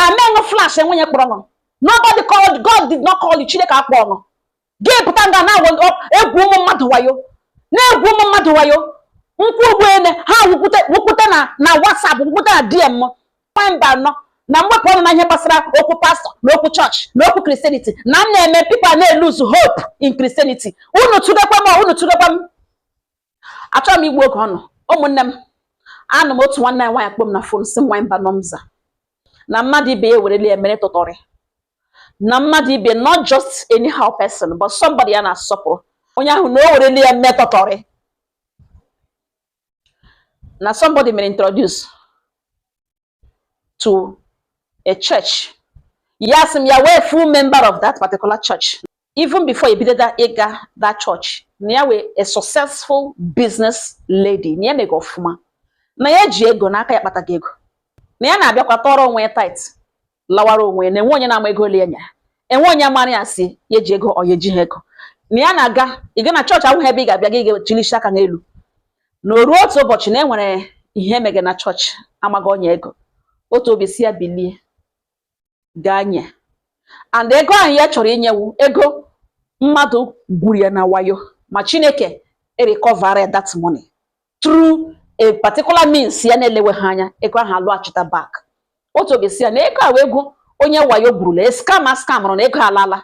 amenụ flash enwe onye kpọrọ unu nobody called god did not call you chineke akpọ unu gị pụta nga na-egwu ụmụ mmadụ wayo na-egwu ụmụ mmadụ wayo m kwuo ugbu a lee ha wụkwute na whatsapp wụkwute na dm mba nụ na m wepụ ọnụ na ihe gbasara okwu pastọ na okwu chọọchị na okwu kristianity na m na-eme people na-eluzu hope in kristianity unu tụdekwa m unu tụdekwa m achọghị m igbu oge unu ụmụnne m anọ m otu nwanne anyị nwaanyị akpọ m na fon sị m nwaanyị mba nọmza na mmadụ ibe ya ewerela ya mere tụtọrị na mmadụ ibe not just anyhow person but somebody ya na-asọpụrụ onye ahụ na o werela ya mee tụtọrị na somebody mere introduce to a church ya asị m ya wee full member of that particular church even before e bido ịga that church na ya wee a successful business lady na ya ji ego ọfụma na ya ji ego na aka ya kpataga ego na ya na-abịakwa tụọrọ onwe ya tithe lawara onwe ya na enwe onye na-ama ego ole ya nyere enwe onye amara ya sị ya ji ego ọ ya ejighị ego na ya na-aga ịga na chọọchị awụghị ebe ị ga-abịa gị ga-echilishi aka n'elu na o ruo otu ụbọchị na e nwere ihe e mege na chọọchị amaghị onye ego otu obi sị ya bilie gaa nye and ego ahụ ya chọrọ inye wụ ego mmadụ gwuru ya na wayo ma chineke erikọvara that money through a particular means ya na-elewe ha anya ego ahụ alọghachita back otu obi sị ya na ego ahụ ego onye wayo gwurula scammer scamụrụ na ego alala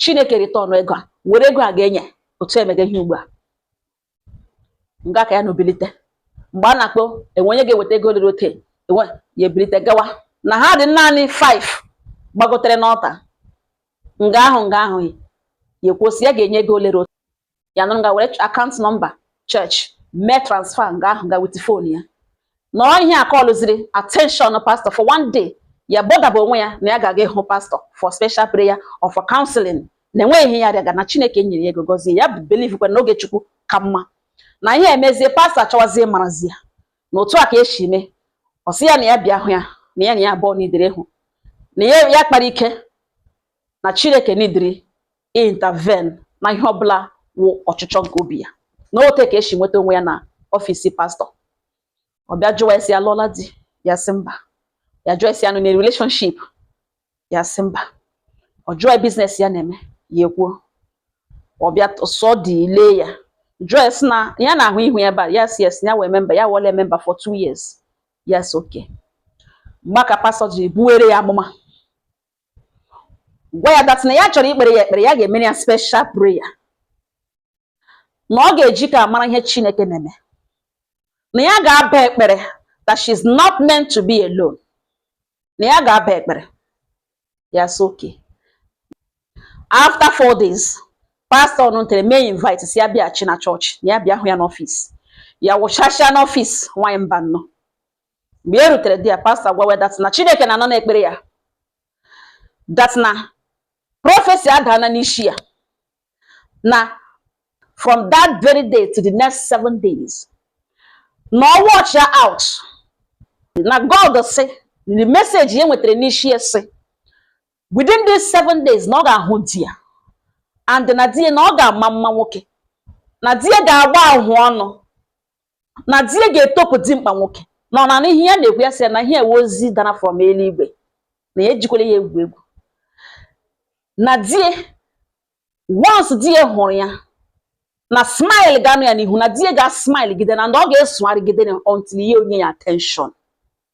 chineke ritọnụ ego a were ego a ga-enye otu e mege ihe ugbu a nga ka ya nọ bilite mgbe a na-akpọ enwe onye ga-eweta ego olere ote ya ebilite gawa na ha dị naanị 5 gbagotere n'ọlta nga ahụ nga ahụ ya ekwuo sị ya ga-enye ego olere ote ya nọrọ nga were akaụntụ nọmba chọọchị mee transfa nga ahụ ga with fon ya na ọ ihe a kọlụziri attention pastor for one day ya bọdaba onwe ya na ya ga-aga ịhụ pastọ for special prayer or for counseling na enweghị ihe ya rịaga na chineke nyere ya ego gọzie ya believe kwa na oge chukwu ka mma na ihe emezie pastọ achọwazie marazi ya na otu a ka e si mee ọ sị ya na ya bịa hụ ya na ya na ya abụọ niidiri ịhụ na ya ya kpara ike na chineke niidiri intervene na ihe ọbụla wụ ọchịchọ nke obi ya na ote ka e si nweta onwe ya na ọfisi pastọ ọ bịa jụwa ya sị ya alụọla di ya sị mba ya jụọ ya sị ya nọ na relationship ya sị mba ọ jụọ biznes ya na-eme ya ekwuo ọ bịa sọ dị ile ya jụọ ya sị na ya na-ahụ ihu ya ebe a ya sị yes ya wee memba ya wọle memba for two years ya sị okay mgbe ka pastọ ji buwere ya amụma gwa ya that na ya chọrọ ikpere ya ekpere ya ga-emere ya special prayer na ọ ga-eji ka a mara ihe Chineke na-eme na ya ga-aba ekpere that she is not meant to be alone na ya ga-aba ekpere ya so okay after four days pastọ nụtere mee invite sị ya bịaghachi na chọọchị na ya bịa hụ ya n'ọfịs ya wụchasịa n'ọfịs nwaanyị Mbanọ mgbe ya rutere there pastọ gwawe that na Chineke na-anọ n'ekpere ya that na prọfesi adana n'isi ya na from that very day to the next seven days na ọ watchịa out na God sị the message ya nwetara n'isi ya sị within these seven days na ọ ga-ahụ di ya and na di ya na ọ ga-ama mma nwoke na di ya ga-agba ahụ ọnụ na di ya ga-etopụ dimkpa nwoke na ọ na-anụ ihe ya na-ekwu ya sị na ihe a wụ ozi dara from eluigwe na ya ejikwala ya egwu egwu na di ya once di ya hụrụ ya na smile ga-anọ ya n'ihu na di ya ga-asmile gide and ọ ga-esogharịgide ya until ya enye ya attention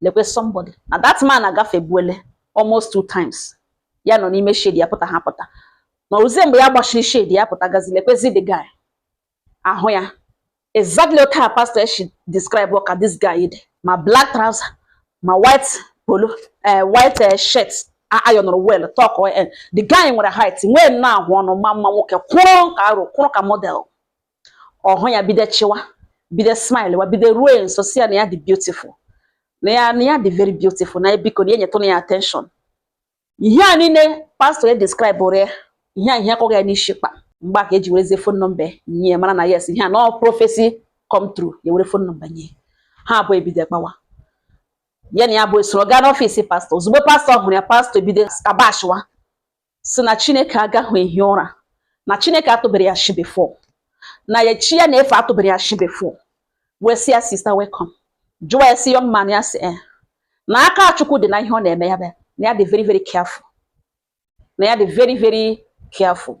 lekwe somebody na that man agafebuole almost two times ya nọ n'ime shade ya pụta ha pụta na ọ wụzi mgbe ya gbachiri shade ya pụta gazi lekwezi the guy ahụ ya exactly otu a pastor shi describe ka this guy dị ma black trouser ma white polo eh, white eh, shirt ironụrụ well tuck eh, the guy nwere height nwee nna ahụ ọnụ ma mma nwoke kwụrụ ka arụ kwụrụ ka model ọ hụ ya bido chịwa bido smile wa bido ruo nso sị ya na ya dị beautiful na ya na ya dị very beautiful na biko na ya nyetụrụ ya attention ihe a niile pastọ ya describe ụrụ ya ihe a ihe akụọ ya n'isi kpa mgbe a ka e ji werezie fon nọmba nye ya mara na yes ihe a na ọ prọfesi come true ya were fon nọmba nye ha abụọ ebido gbawa ya na ya abụọ esoro gaa n'ọfịs pastọ ozugbo pastọ hụrụ ya pastọ ebido kabashiwa sị na Chineke agaghị ehi ụra na Chineke atụbere ya ashị before na ya chi ya na-efe atụbere ya ashị before wee sị ya sister welcome jụwa ya sị young man ya sị eh, na aka Chukwu dị na ihe ọ na-eme ya be na ya dị very very careful na ya dị very very careful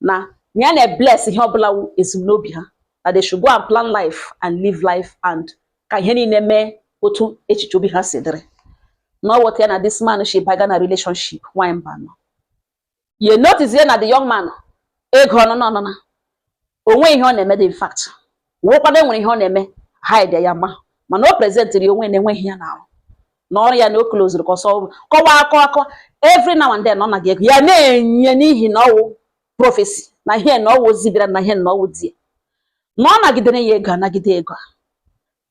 na na ya na-ebless ihe ọbụla wụ ezumnobi ha that they should go and plan life and live life and ka ihe niile mee otu echiche obi ha si dịrị na ọ wụ otu a ya na this man shi baga na relationship nwanyị Mbanọ ye notice na the young man ego ọnụnụ ọnụna o nweghị ihe ọ na-eme dị in fact wụkwa na enwere ihe ọ na-eme hide ya mana o presentịrị onwe na-enweghị ya n'ahụ na ọrụ ya na o klozuru ka ọ sọọ kọwa akọ akọ every now and then ọ naga ego ya na-enye n'ihi na ọwụ prophecy na ihe na ọwụ ozi bịara na ihe na ọwụ di ya na ọ nagidere ya ego anagide ego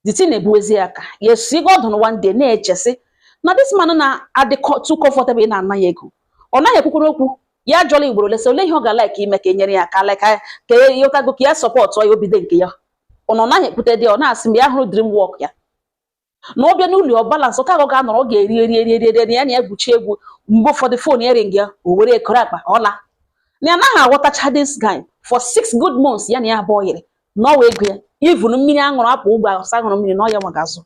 the thing ebuwezi ya aka ya asị God na one day na-echesị na this man na-adị too comfortable ị na-ana ya ego ọ naghị ekwukwere okwu ya jụọla ugboro lesa ole ihe ọ ga-like ime ka e nyere ya aka like ka e yotago ka ya support ya o bido nke ya ọ nọ naghị ekwute dị ọ na-asị mgbe ya hụrụ dream work ya na ọ bịa n'ụlọ ọ balance ka ọ ga-anọrọ ọ ga-eri eri eri eri eri ya na ya gwuchi egwu mgbe ụfọdụ fon ya ring ya o were ekoro akpa ọ laa na ya naghị aghọtacha this guy for six good months ya na ya abụọ yiri na ọwụ ego ya even mmiri aṅụrụ apụ ụgbọ asa aṅụrụ mmiri na ọ ya nwa ga-azụ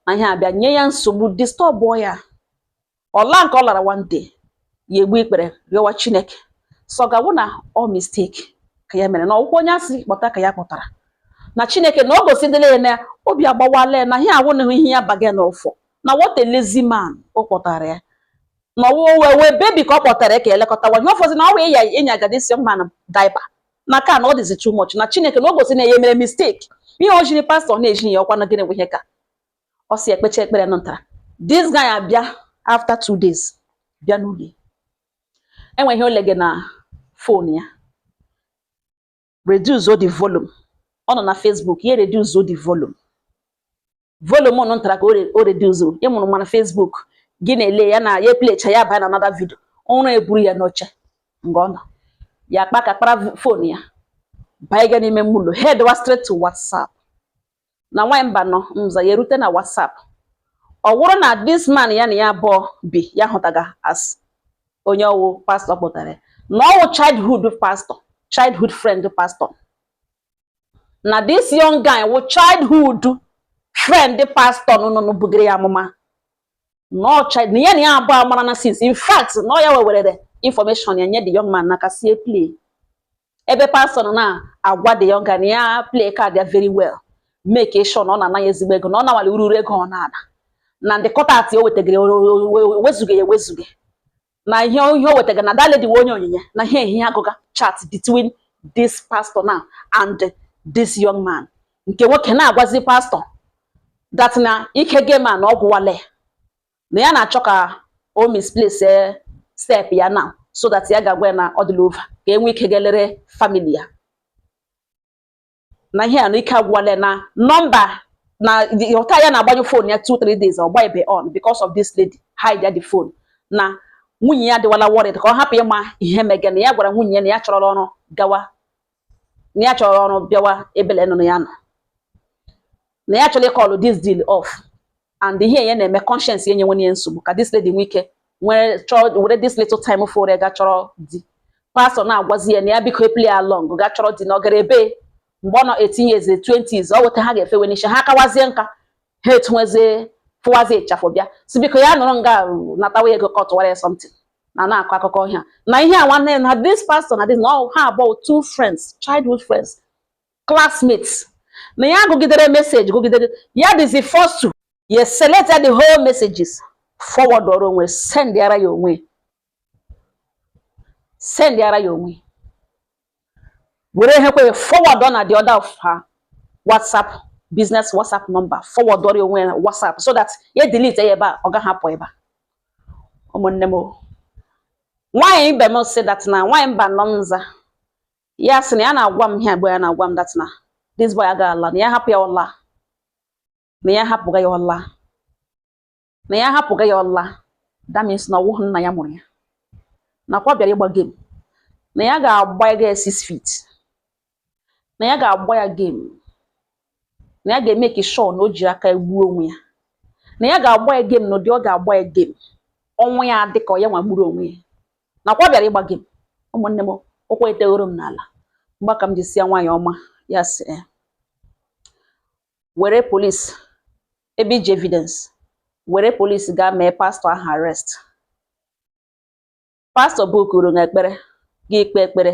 na ihe abịa nye ya nsogbu disturb ya ọ laa nke ọ lara one day ya egbu ikpere rịọwa chineke sị God o na ọ mistake ka ya mere na ọkwa onye asị kpọta ka ya kpọtara na chineke na ọ gosidịla ya na obi agbawala ya na ihe awụnahụ ihe ya bargain for na what a lazy man ọ kpọtara ya na ọwụ wee wee baby ka ọ kpọtara ya ka elekọtawa ihe ọ fọzi na ọ wee ya inye agadi this man diaper na ka na ọ dịzi too much na chineke na o gosi na ya mere mistake ihe o jiri pastọ na-eji ya ọkwa na gịnị bụ ihe ka ọ si ekpecha ekpere nụ ntara this guy abịa after two days bịa n'ụlọ enwe ihe o lege na fon ya reduce the volume ọ nọ na Facebook ya reduce the volume volume nụ ntara ka o reduce ị mụrụ mana Facebook gị na-ele ya na ya playcha ya baa na another video ụra eburu ya n'oche nga ọ nọ ya kpa ka kpara fon ya baa ịga n'ime ime ụlọ headwa straight to WhatsApp na nwaanyị mba nọ mza ya erute na WhatsApp ọ wụrụ na this man ya na ya abụọ bi ya hụtaga as onye ọwụ pastọ kpọtara na ọwụ childhood pastọ childhood friend pastọ na this young guy wụ childhood friend pastọ nụnụnụ bugere ya amụma na ya na ya abụọ amarana since in fact na ọ ya wewerere information ya nye the young man n'aka sie play ebe pastọ nọ na-agwa the young guy na ya play card ya very well makee sure na ọ na-anaghị ezigbo ego na ọ nawala ururu ego ọ na-ana na ndị kọta tithe o wetagara wezuga ya ewezuga na ihe ihe o wetagara na that lady wụ onye onyinye na ihe a ya agụga chat between this pastor now and this young man nke nwoke na-agwazi pastọ that na ike game a na ọ gwụwale na ya na-achọ ka o misplace step ya na so that ya ga-agwa ya na ọ dịla over ka enwe ike ga-elere family ya na ihe a na ike agwụwala na nọmba na ọta ya na-agbanyụ fon ya 2 3 days ọ gbaebe on because of this lady hide ya the phone na nwunye ya adịwala worried ka ọ hapụ ịma ihe mege na ya gwara nwunye ya na ya chọrọla ọrụ gawa na ya chọrọ ọrụ bịawa ebele nụnụ ya nọ na ya chọrọ ịkọlụ this deal off and ihe ya na-eme conscience ya nyewe ya nsogbu ka this lady nwee ike were this little time fọrọ ga chọrọ di pastọ na-agwazi ya na ya biko play along ga chọrọ di na ọ gara ebe mgbe ọ nọ 18 years 20s ọ weta ha ga-efewe n'isi ha kawazie nka ha etunwezie fụwazie ịchafụ bịa si biko ya nọrọ nga natawa ego ka ọ tụwara ya something na na-akọ akụkọ ihe a na ihe a nwanne na this pastor na this na ha abụọ two friends childhood friends classmates na ya gụgidere message gụgidere ya dịzi first ya select the whole messages forwardọrọ onwe send ara ya onwe send ara ya onwe were ehekwe forward na the other of her WhatsApp business WhatsApp number forwardọrọ onwe ya WhatsApp so that ya delete ya ebe a ọ gaghị apụ ebe a ụmụnne m nwaanyị ibe m sị that na nwaanyị Mbanọ m nza ya sị na ya na-agwa m ihe abụọ ya na-agwa m that na this boy agaghị ala na ya hapụ ya ọ laa na ya hapụga ya ọ laa na ya hapụga ya ọ laa that means na ọwụghị nna ya mụrụ ya nakwa ọ bịara ịgba game na ya ga-agba ya six feet na ya ga-agba ya game na ya ga-emake sure na o ji aka gbuo onwe ya na ya ga-agba ya game na ụdị ọ ga-agba ya game ọnwụ ya dị ka ọ ya nwa gburu onwe ya nakwa ọ bịara ịgba game ụmụnne m ụkwụ eteghoro m n'ala mgbe a ka m ji sị ya nwaanyị ọma ya sị were police ebe iji evidence were police gaa mee pastọ ahụ arrest pastọ bukuru na ekpere gị ekpe ekpere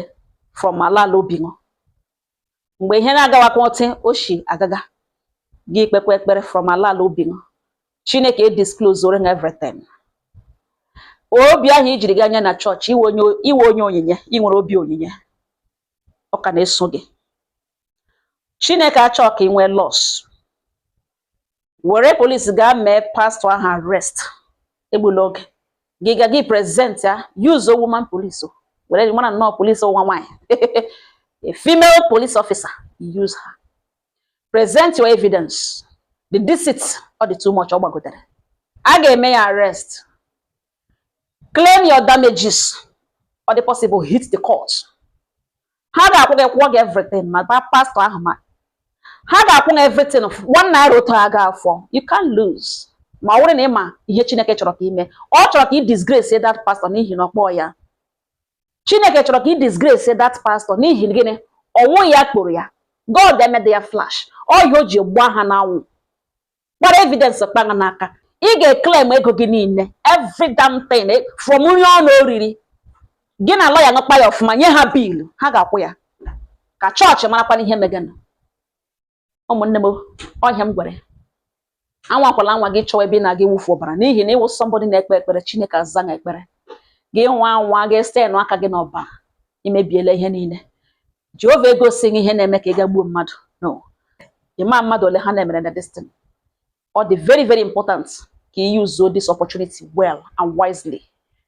from ala ala obi gị mgbe ihe na-agawakwa otu o si agaga gị ekpekwa ekpere from ala ala obi gị chineke edisklozoro na everything obi ahụ i jiri gaa nye na chọọchị ị wụ onye onyinye ị nwere obi onyinye ọ ka na-eso gị chineke achọghị ka ị nwee loss were police gaa mee pastọ ahụ arrest egbula oge gị ga gị present ya use a woman police o were mara nnọọ police nwa nwaanyị a female police officer use her present your evidence the deceit ọ dị too much ọ gbagotere a ga-eme ya arrest claim your damages ọ dị possible hit the court ha ga-akwụ gị kwụọ gị everything ma pastọ ahụ ma ha ga-akwụ gị everything one naira otu agaghị afọ you can't lose ma ọ bụrụ na ị ma ihe Chineke chọrọ ka i mee ọ chọrọ ka ị disgrace that pastor n'ihi na ọ kpọghị ya Chineke chọrọ ka ị disgrace that pastor n'ihi gịnị ọwụghị ya kpọrọ ya God emede ya flash ọ ihe o ji gbaa ha n'anwụ gbara evidence kpagha n'aka ị ga-eclaim ego gị niile every damn thing from nri ụnụ riri gị na lawyer ụnụ kpaa ya ọfụma nye ha bill ha ga-akwụ ya ka chọọchị marakwana ihe meganụ ụmụnne m ọ ihe m gwara ya anwakwala anwa gị chọwa ebe ị na-aga ịwụfu ọbara n'ihi na ị wụ somebody na-ekpe ekpere chineke aza ekpere gị nwaa anwa ga stain aka gị n'ọbara i mebiela ihe niile Jehova egosi gị ihe na-eme ka ị ga gbuo mmadụ no ị ma mmadụ ole ha na-emere na this thing ọ dị very very important ka ị yuzuo this opportunity well and wisely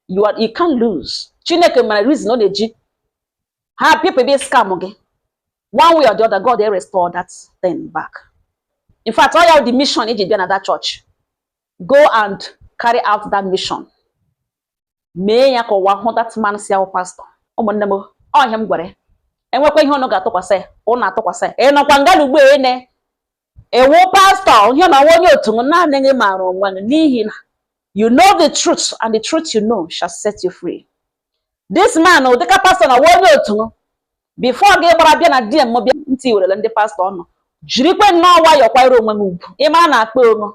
you can't lose Chineke mara reason ọ na-eji ha people bịa scam gị one way or the other God erestore that thing back in fact ọ ya wụ the mission i ji bịa na that church go and carry out that mission mee ya ka ụwa hụ that man sị ya wụ pastor ụmụnne m ọ ihe m gwara ya e nwekwa ihe ụnụ ga-atụkwasị ya ụnụ atụkwasị ya ị nọkwa nga na ugbu a na ị wụ pastor ị na-awụ onye otu naanị gị maara onwe gị n'ihi na you know the truth and the truth you know shall set you free this man ọ dịka pastor na-awụ onye otu before gị gbara bịa na DM bịa ntị werele ndị pastor ụnụ jirikwe nnọọ nwayọọ kwanyere onwe gị ugwu ị mara na akpa onwe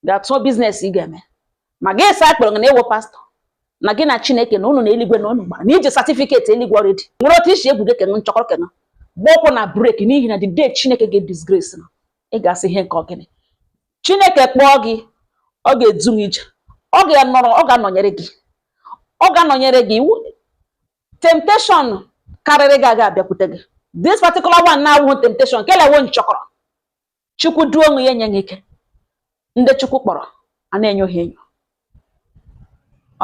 ga tụọ business ị ga-eme ma gị asị a kpọrọ gị na ị wụ pastor na gị na chineke na ụnụ na eluigwe na ụnụ gbara na i ji certificate eluigwe already nwere otu i si egwu gị kenụ nchọkọrọ kenụ gba ụkwụ na brake n'ihi na the day chineke ga-edisgrace na ị ga-asị ihe nke ọ gịnị chineke kpọọ gị ọ ga-edu gị ije ọ ga-anọrọ ọ ga-anọnyere gị ọ ga-anọnyere gị temptation karịrị gị aga abịakwute gị this particular one awụghị temptation kele wụ nchọkọrọ chukwu duo onwe ya enye gị ike ndị chukwu kpọrọ a na-enyo ha enyo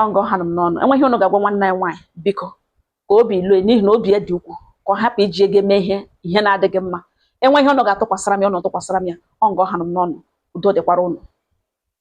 ọ nga ọ hanụ m n'ọnụ e nwee ihe ụnụ ga-agwa nwanne anyị nwaanyị biko ka obi lue n'ihi na obi ya dị ọkụ ka ọ hapụ iji ya ga eme ihe ihe na-adịghị mma e nwee ihe ụnụ ga-atụkwasịra m ya ụnụ atụkwasịra m ya ọ nga ọ hanụ m n'ọnụ udo dịkwara ụnụ